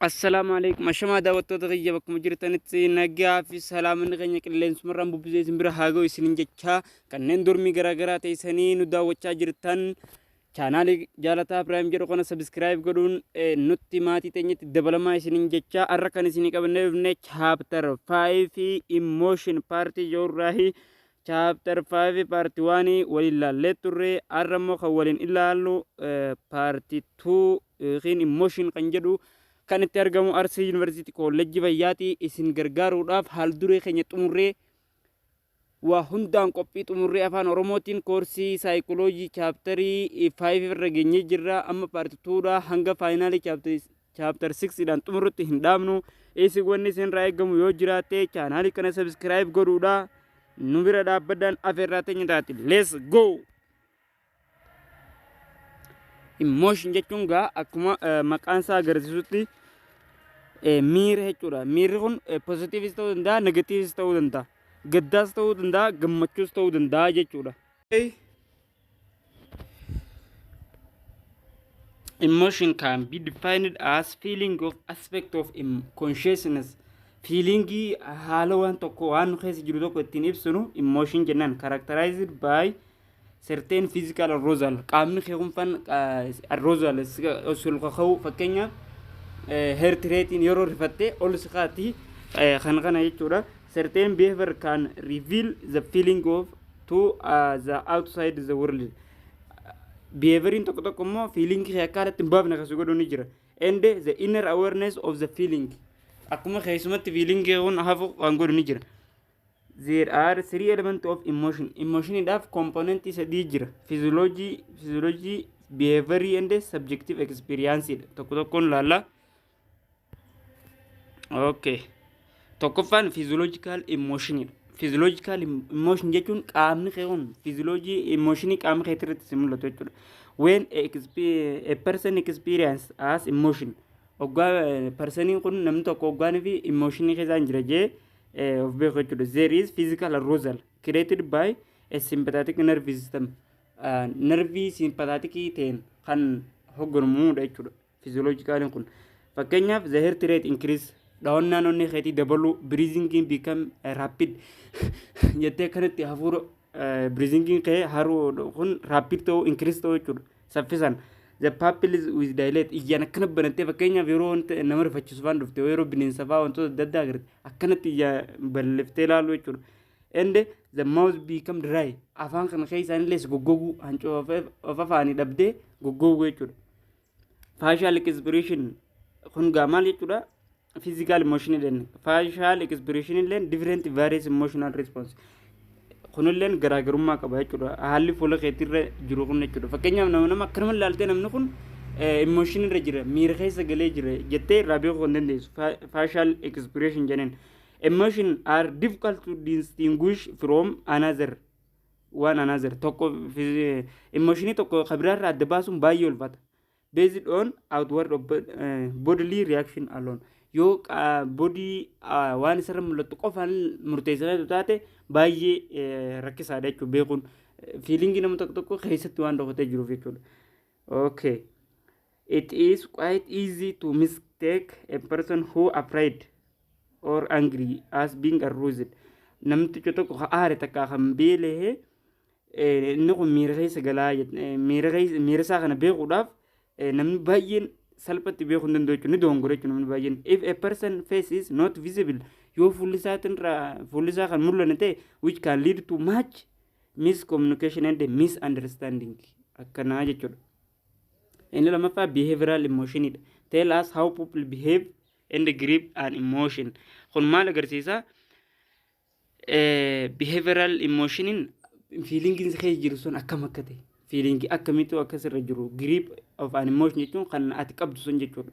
Assalaamu alaikum ashamaa daawwattoota kiyya bakkuma jirtanitti nagaa fi salaamanni keenya qilleensumarraan bubbisee isin bira haa ga'u isinin jechaa kanneen dormii garaagaraa teessanii nu daawwachaa jirtan chaanaalii jaalataa piraayim jedhu kana sabiskiraayib godhuun eh, nutti maatii teenyatti dabalamaa isinin jechaa har'a kan isinii qabannee dhufne chaaptar 5 fi immooshin paartii joorraahi chaaptar 5 paartii 1 waliin laallee turre har'a immoo kan waliin ilaallu paartii 2 yookiin immooshin kan jedhu kan itti argamu Arsii Yuunivarsiitii Koollejjii Fayyaati. Isin gargaaruudhaaf haal duree keenya xumurree waa hundaan qophii xumurree afaan Oromootiin koorsii saayikoloojii chaaptarii 5 irra geenyee jirra. Amma paarti 2dha hanga faayinaalii chaaptar 6 dhaan xumurrutti hin dhaabnu. Isin wanni isinirraa eegamu yoo jiraate chaanaalii kana sabiskiraayib godhuudha. Nu bira dhaabbaddaan afeerraa teenya taati. Let's go! Emotion jechuun gaa akkuma eh, maqaan isaa agarsiisutti eh, miira jechuudha. Miirri kun eh, positiivis ta'uu danda'a, negatiivis ta'uu danda'a. Gaddaas ta'uu danda'a, gammachuus ta'uu danda'a jechuudha. Emotion can be defined as feeling of aspect of em- consciousness. Feelingii haala waan tokko waan nu keessa jiru tokko ittiin ibsinu emotion jennaan characterized by certain physical arousal qaamni kee kun fan arousal sul kaka'u fakkeenyaaf heart rate yeroo rifattee ol si kaati kan kana jechuudha certain behavior can reveal the feeling of to uh, the outside the world behavioriin tokko tokko immoo feeling kee akka alatti hin baafne kan si godhu ni jira and the inner awareness of the feeling akkuma keessumatti feeling kee kun hafu kan godhu ni jira There are three elements of emotion. Emotionidhaaf komponentii sadii jira. Physiology, physiology, behavior and subjective experience dha. Tokko tokkoon ilaalla. Okay. Tokkoffaan physiological emotion dha. Physiological emotion jechuun qaamni kee kun physiology emotion qaama kee irratti si mul'atu jechuudha. When a, expe- a person experience as emotion. Oggaa personiin kun namni tokko oggaan fi emotion keessaa hin jira jee eh, of beeku jechuudha there is physical arousal created by a sympathetic nerve system uh, nervii simpathaatikii ta'een kan hogganamuudha jechuudha physiologicaliin kun fakkeenyaaf the heart rate increase dhawannaan onnee keetii dabaluu breathing become eh, rapid jettee kanatti hafuura Breathing kee haroo kun rapid ta'uu increase ta'uu jechuudha. Saffisan. The pupils with dilate ijaan akkana banattee fakkeenyaaf yeroo wanta nama rifachiisu faan dhufte yeroo bineensa faa wantoota adda addaa agartee akkanatti ija balliftee ilaaluu jechuudha. And the mouth become dry afaan kana keessaan illee goggoguu hancoo of afaanii dhabdee goggoguu jechuudha. Faashaal ekispreeshin kun gaa maal jechuudha? Fiizikaal immooshinii jenna. Faashaal ekispreeshin illee difireenti vaariyees immooshinal riispoonsi. Kun illee garaagarummaa qaba jechuudha. Haalli fuula keetirra jiru kun jechuudha. Fakkeenyaaf nama nama akkanuma ilaaltee namni kun immooshinii irra jira miira keessa galee jira jettee irraa beekuu kan dandeessu faashaal ekispreeshin jeneen. Emotion are difficult to distinguish from another. waan another tokko emotionii tokko kabiraarra adda baasuun baay'ee ulfata based on outward of bodily reaction alone yoo bodii waan isarra mul'attu qofaan murteessitee taate baay'ee rakkisaadha jechuudha beekuun fiilingii nama tokko tokko keessatti waan dhokatee jiruuf jechuudha. Okay. It is quite easy to mistake a person who afraid or angry as being aroused. Namticha tokko ka aare takka kan beelehe eh, inni kun miira keessa galaa jett- eh, miira keessa- miira isaa kana beekuudhaaf eh, namni baay'een salphatti beekuu hin danda'u jechuudha. Ni doongora jechuudha namni baay'een. If a person face is not visible yoo fuulli isaatiin irraa- fuulli isaa kan mul'anne ta'e which can lead to much Miss communication and misunderstanding akkanaa jechuudha. Inni lammaffaa behavioral emotion dha. Tell us how people behave and grip an emotion. Kun maal agarsiisa? Behavioral emotioniin fiilingiin si keessa jiru sun akkam akka ta'e. Fiilingii akkamitu akka sirra jiru. Grip of an emotion jechuun kan ati qabdu sun jechuudha.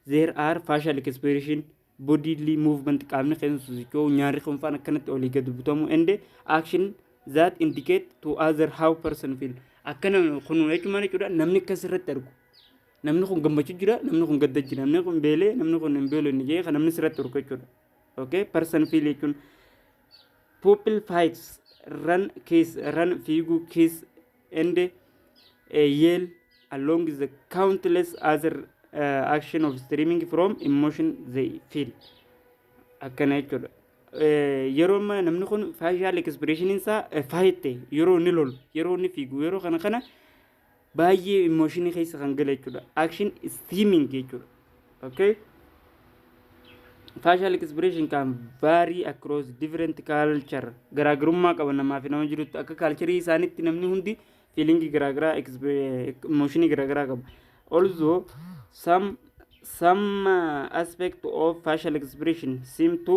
There are facial expression bodily movement qaamni keenya sosocho'u nyaarri keenya faan akkanatti olii gad butamu and action that indicate to other how person feel akkana kun jechuun maal jechuudha namni akkas irratti argu namni kun gammachuu jira namni kun gadda jira namni kun beelee namni kun hin beelee inni jee kan namni sirratti argu jechuudha okay person feel jechuun pupil fights run kiss run fiiguu kiss and uh, yell along the countless other uh, action of streaming from emotion they feel akkana jechuudha Eh, yeroo amma namni kun faashaal ekspreeshiniin isaa eh, faayitte yeroo inni lolu yeroo inni fiigu yeroo kana kana baay'ee immooshinii keessa kan gale jechuudha action streaming jechuudha okay facial expression can vary across different culture garaagarummaa qaba namaa fi nama jirutti akka kaalcharii isaanitti namni hundi fiilingii garaagaraa emooshinii garaagaraa qaba also some some uh, aspect of facial expression seem to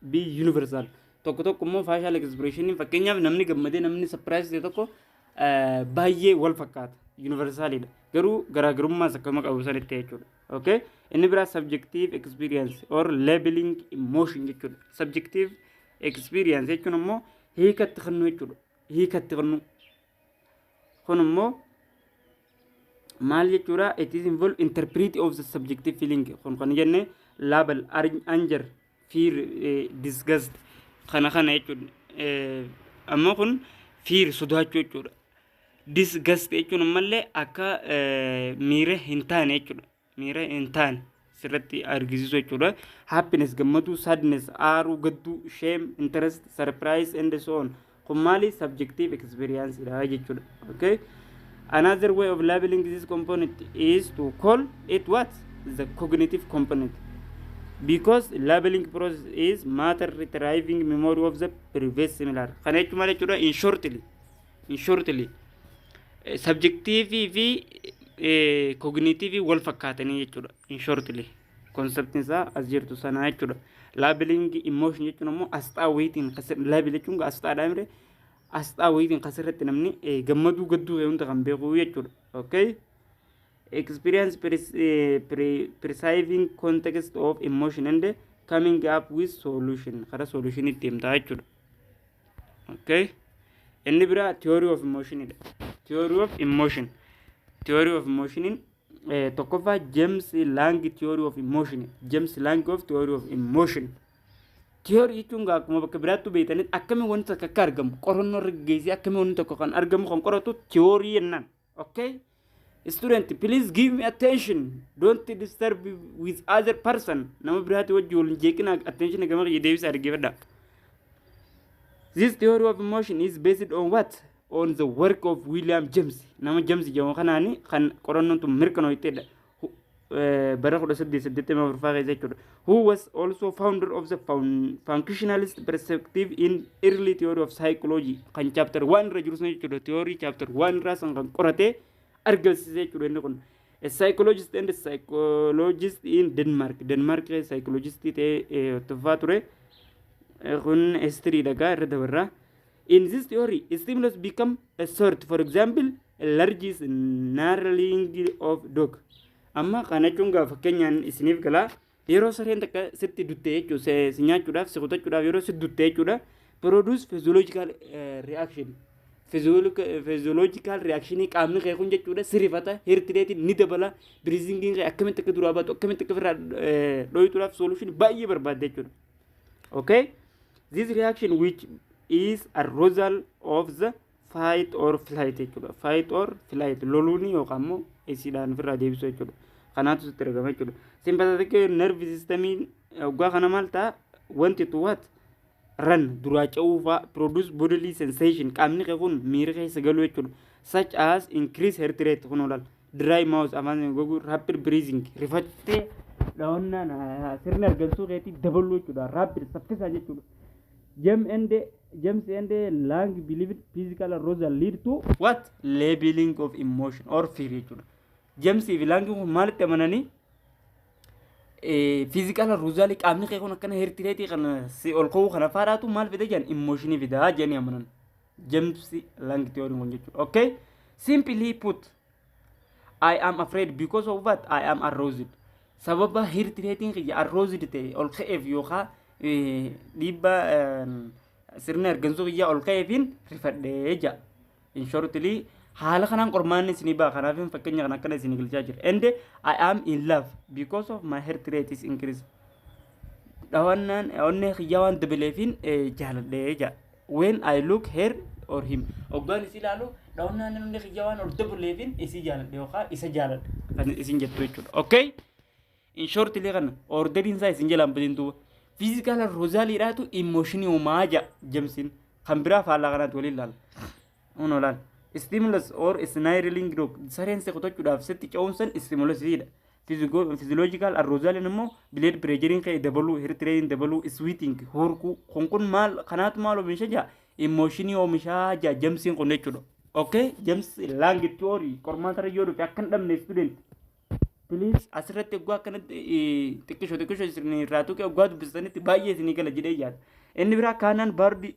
B. Universal. Tokko tokko immoo facial expression fakkeenyaaf namni gammadee namni surprise ta'e tokko eh, baay'ee wal fakkaata. Universal dha. Garuu garaagarummaas akkuma qabu sanitti jechuudha. Okay? Inni biraa subjective experience or labeling emotion jechuudha. Subjective experience jechuun immoo hiikatti kennuu jechuudha. Hiikatti kennuu. Kun immoo maal jechuudha it is involve interpret of the subjective feeling kun kan jenne label ar- anger fear eh, disgust kana kana jechuudha Eh, amma kun fear sodaachuu jechuudha disgust jechuun ammallee akka eh, miira hin taane jechuudha miira hin taane sirratti argisiisu jechuudha happiness gammaduu sadness aaruu gadduu shame interest surprise and so on Kun maali? Subjective experience dha jechuudha. Okay? Another way of labeling this component is to call it what? The cognitive component. Because labeling process is matter retrieving memory of the previous similar. Kana jechuun maal jechuudha? In shortly. In shortly. Eh, Subjective fi eh, cognitive wal fakkaatanii jechuudha. In shortly. Konseptiin isaa as jirtu sanaa jechuudha. Laabilingi immooshin jechuun ammoo asxaa wayitiin laabil jechuun asxaadhaa mire asxaa wayitiin kas irratti namni gammaduu gadduu kee hunda kan beeku jechuudha. Okay? Experience perceiving context of emotion and coming up with solution kara solution itti himtaa jechuudha. Okay? Inni biraa theory of emotion dha. Theory of emotion. Theory of emotion Eh, tokkoffaa James Lang Theory of Emotion. James Lang of Theory of Emotion. Theory jechuun gaa akkuma bakka biraattuu beektanis akkamiin wanti tokko akka argamu qorannoo irra geessee akkamiin wanti tokko kan argamu kan qoratu theory jennaan. Okay? Student, please give me attention. Don't disturb me with other person. Nama biraati wajji wal hin jeeqinaa attention gama kiyya deebisaa dhaggeeffadha. This theory of emotion is based on what? on the work of William James nama James jedhamu kanaani kan qorannoon tun mirkanoofteedha bara 1884 faa keessa jechuudha who was also founder of the functionalist perspective in early theory of psychology kan chapter 1 irra jiru sun jechuudha theory chapter 1 irraa san kan qorate argamsiise jechuudha inni kun a psychologist and psychologist in Denmark Denmark psychologist ta'ee tuffaa ture kun history dhagaa irra dabarraa In this theory, stimulus become a sort, for example, a large snarling of dog. Amma kana jechuun gaa fakkeenyaan isiniif gala yeroo sareen takka sitti dutte jechuudha si si nyaachuudhaaf si kutachuudhaaf yeroo sitti dutte jechuudha produce physiological eh, reaction physiological reaction qaamni kee kun jechuudha si rifata heart rate ni dabala breathing kee akkamitti akka duraa baatu akkamitti akka ofirraa eh, dhooytuudhaaf solution baay'ee barbaadda jechuudha. okay this reaction which is a result of the fight or flight jechuudha fight or flight loluuni yookaan immoo isiidhaan ofirraa deebisuu jechuudha kanaatu sitti argama jechuudha sympathetic nerve system oggaa kana maal ta'a wanti tu what ran duraa ca'uufaa produce bodily sensation qaamni kee kun miira keessa galuu jechuudha such as increase heart rate kun olaal dry mouth afaan sana goguu rapid breathing rifattee dhawannaan ah, sirni argansuu keetii dabaluu jechuudha rapid saffisaa jechuudha James and James and Lang believed physical arousal lead to what labeling of emotion or fear jechuudha James fi Lang kun maalitti amananii fiizikaal aruuzaalii qaamni kee kun akkana hertireetii kana si ol ka'uu kana faadhaatu maal fida jedhan immooshinii fida jedhanii amanan. James Lang theory kun jechuudha. Okay? Simply put, I am afraid because of what I am aroused. Sababa hirti reetiin kiyya aroused ta'e ol ka'eef yookaan eh, dhiibbaa eh, sirna ergansuu kiyyaa ol ka'eefiin rifadhee jira. In shortly, haala kanaan qormaanni isinii ba'a. Kanaaf fakkeenya kan akkana isinii galchaa jira. And I am in love because of my heart rate is increased. Dhawannaan onnee kiyyaa waan dabaleefiin eh, jaaladhee jira. When I look her or him. Oggaan isii ilaalu dhawannaan namni kiyya waan ol dabuleefin isii jaaladhe yookaan isa jaaladhe. Kan isin jettu jechuudha. Okay? In short illee kana orderiin isaa isin jalaan badin duuba. Fiizikaala rozaaliidhaatu immooshinii uumaa ja'a jamsiin. Kan biraa faallaa kanaatti waliin ilaala. Uno laal. Stimulus or snirling dog sareen si kutachuudhaaf sitti ce'umsan stimulusiidha. Physiological arousal immoo blood pressure kee dabaluu, heart rate dabaluu, sweating, horkuu. Kun kun maal kanaatu maal oomisha jaa? Emotionii oomishaa jaa jamsiin kun jechuudha. Okay, jams lang theory qormaata irra yoo dhufe akka hin dhabne student. Please asirratti egaa akkanatti xiqqisho xiqqisho isin irraa tuqe egaa dubbisanitti baay'ee isinii gala jedhee yaada. Inni biraa kaanaan baardi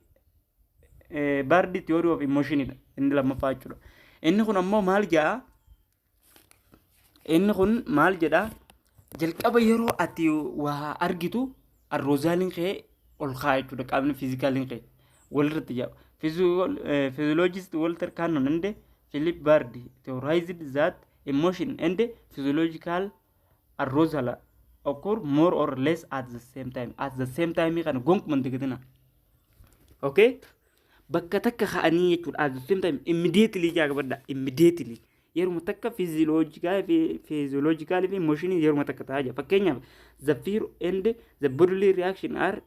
Bardi theory of emotion dha inni lammaffaa jechuudha. Inni kun ammoo maal jedha? Inni kun maal jedha? Jalqaba yeroo ati waa argitu arroozaaliin kee ol kaa'a jechuudha qaamni fiizikaaliin kee walirratti jedha. Physiologist Walter Cannon and Philip Bardi theorized that emotion and physiological arrozala occur more or less at the same time at the same time kana gonkuman dagatina okay bakka takka ka'anii jechuudha at the same time immediately jaa qabadha immediately yeruma takka physiological fi physiological fi motion yeruma takka ta'aa jira fakkeenyaaf the fear and the bodily reaction are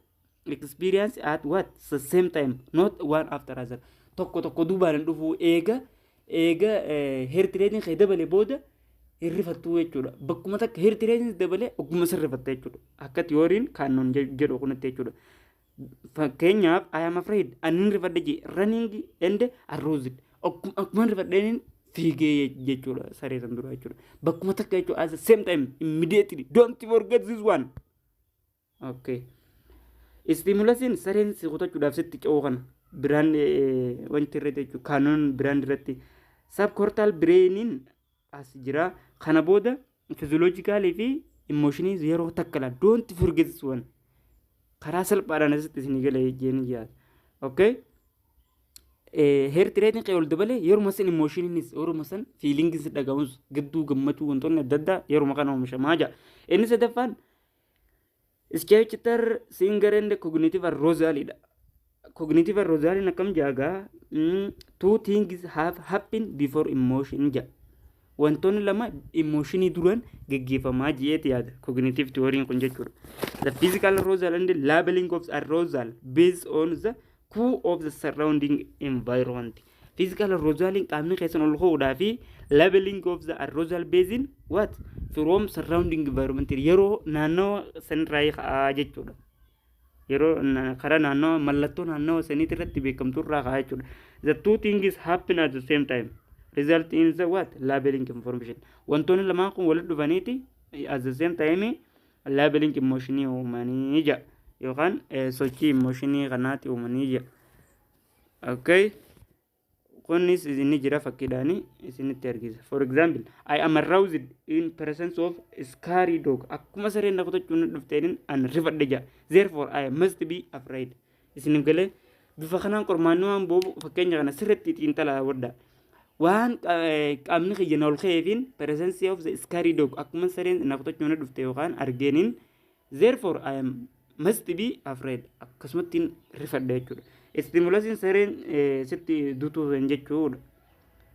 experience at what the same time not one after other tokko tokko duubaan hin dhufu eega eega hertireetiin kee dabale booda hin rifattu jechuudha bakkuma takka hertireetiin dabale ogguma san rifatta jechuudha akka tiyooriin kaannoon jedhu kunatti jechuudha fakkeenyaaf I am afraid annin rifadhe jee running and aroused akkuma rifadheen fiigee jechuudha saree san dura jechuudha bakkuma takka jechuudha as the same time immediately don't forget this one Okay. Istiimulasiin sareen si kutachuudhaaf sitti ce'uu kana biraan wanti irra jechuun kaanoon biraan irratti sabkortaal bireeniin as jira. Kana booda fiziyooloojikaalii fi immooshinii yeroo takka laa doonti furgeessuwan karaa salphaadhaan asitti isin gala jeenii yaada. Okay. Heerti reetiin qe'ee ol dabalee yeruma san immooshiiniinis yeruma san fiilingiin si dhagahuus gidduu gammachuu wantoonni adda addaa yeruma kana oomishamaa jira. Inni sadaffaan Iskeechitar Singer and Cognitive Arousal dha. Cognitive Arousal akkam jaagaa two things have happened before emotion ja. Wantoonni lama emotionii duran geggeeffamaa ji'eeti yaada. Cognitive theory kun jechuudha. The physical arousal and labeling of arousal based on the cool of the surrounding environment physical arousaling qaamni keessan ol ka'uudhaa fi leveling of the arousal basin what from surrounding environment yeroo naannawa sanirraa ka'aa jechuudha yeroo na- karaa naannawa mallattoo naannawa saniitti irratti beekamtu irraa ka'aa jechuudha the two things happen at the same time result in the what labeling information wantoonni lamaan kun walitti dhufaniiti at the same time Labeling immooshinii uumanii jedha yookaan sochii immooshinii kanaatti uumanii jedha. Okay. Kunis inni jira fakkiidhaan isinitti argisa. For example, I am aroused in presence of scary dog. Akkuma sareen na kutachuun dhufteen an rifadhe jedha. Therefore, I must be afraid. Isiniif galee bifa kanaan qormaanni waan boobu fakkeenya kana sirriitti xiinxalaa wadda. Waan qaamni kiyya na ol ka'eefiin presence of the scary dog akkuma sareen na kutachuun na dhufte yookaan argeeniin therefore I am must be afraid akkasumattiin rifadha jechuudha. Istimulasiin sareen sitti dutuu hin jechuudha.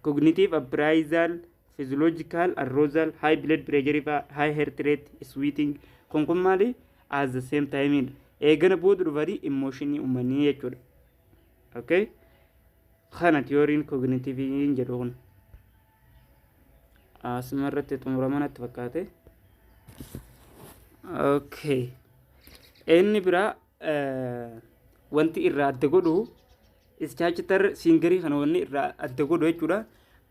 Cognitive appraisal, physiological arousal, high blood pressure fa'aa, high heart rate, sweating kun kun maali? as the same time dha. Eegana booda dhufanii immooshinii uumanii jechuudha. Okay? Kana tiyooriin kooginiitiiviin jedhu kun. Asuma irratti xumurama natti fakkaate. Okay. Inni biraa eh, wanti irraa adda godhu ischaachitar siingarii kana wanni irraa adda godhu jechuudha.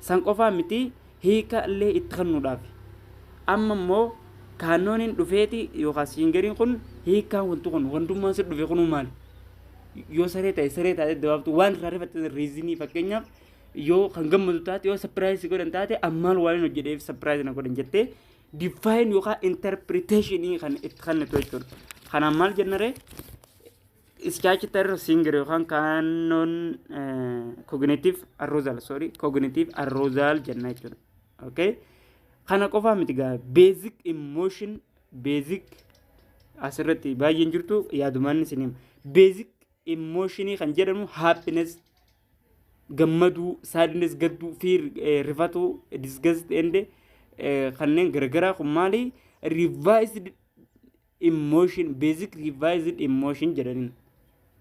San qofaa miti hiika illee itti kennuudhaafi. Amma immoo kaannooniin dhufeeti yookaan siingeriin kun hiikaan wanti kun wandummaan si dhufe kunuu maali? Yoo saree ta'e saree taate dabaabtu waan irraa rifatte riizinii fakkeenyaaf yoo kan gammadu taate yoo sapiraayiz si godhan taate ammaan waan hin hojjedheef sapiraayiz na godhan jettee diffaayin yookaan interpreteeshinii kan itti kennitu jechuudha. Kanaan maal jennaree Statutory singer yookaan kaannoon cognitive arousal sorry cognitive arousal jenna jechuudha. Okay? Kana qofaa miti gaa basic emotion basic asirratti baay'een jirtu yaadumaan isin hima. Basic emotion kan jedhamu happiness gammaduu sadness gadduu fear eh, rifatuu disgust and eh, kanneen garagaraa kun maali revised Emotion basic revised emotion jedhaniin.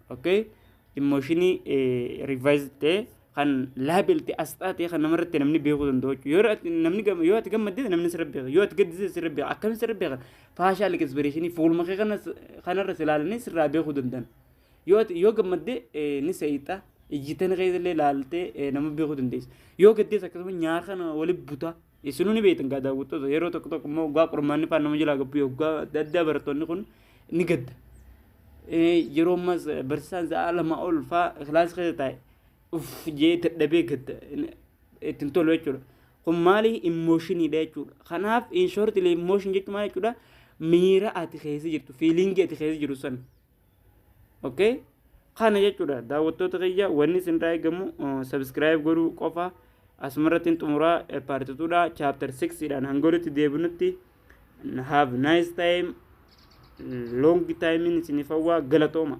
Okay? Emotionii eh, revised ta'e kan label ta'e asxaa ta'e kan namarratti namni beekuu danda'u jechuudha. Yoo ati- namni gam- yoo ati gammadde namni sirra beeka. Yoo ati gaddise sirra beeka. Akkamiin sirra beeka? Faashaal expressionii fuuluma kee kanas kanarra si ilaalanii sirraa beekuu danda'an. Yoo ati yoo gammadde eh, ni seeyxa. Ijjitan kee illee ilaaltee eh, nama beekuu dandeessa. Yoo gaddees akkasuma nyaara kana walitti butaa. Isinuu ni beektan gaa daawwattoota yeroo tokko tokko immoo waggaa qormaanni faan nama jalaa gabbu waggaa adda addaa barattoonni kun ni gadda. Yeroo ammas barsiisaan sa'a lama ol faa kilaasii keessa taa'e uff jee dadhabee gadda ittiin tolu jechuudha. Kun maali immooshinidha jechuudha. Kanaaf in short immooshin jechuun maal jechuudha miira ati keessa jirtu fiiliingii ati keessa jiru sana okay kana jechuudha daawwattoota kiyya wanni isinirraa eegamu sabiskiraayib godhuu qofa asumarrattiin xumuraa paartituudha chaaptar 6 dhaan hangolitti deebinutti have nice time long time isiniif hawwaa galatooma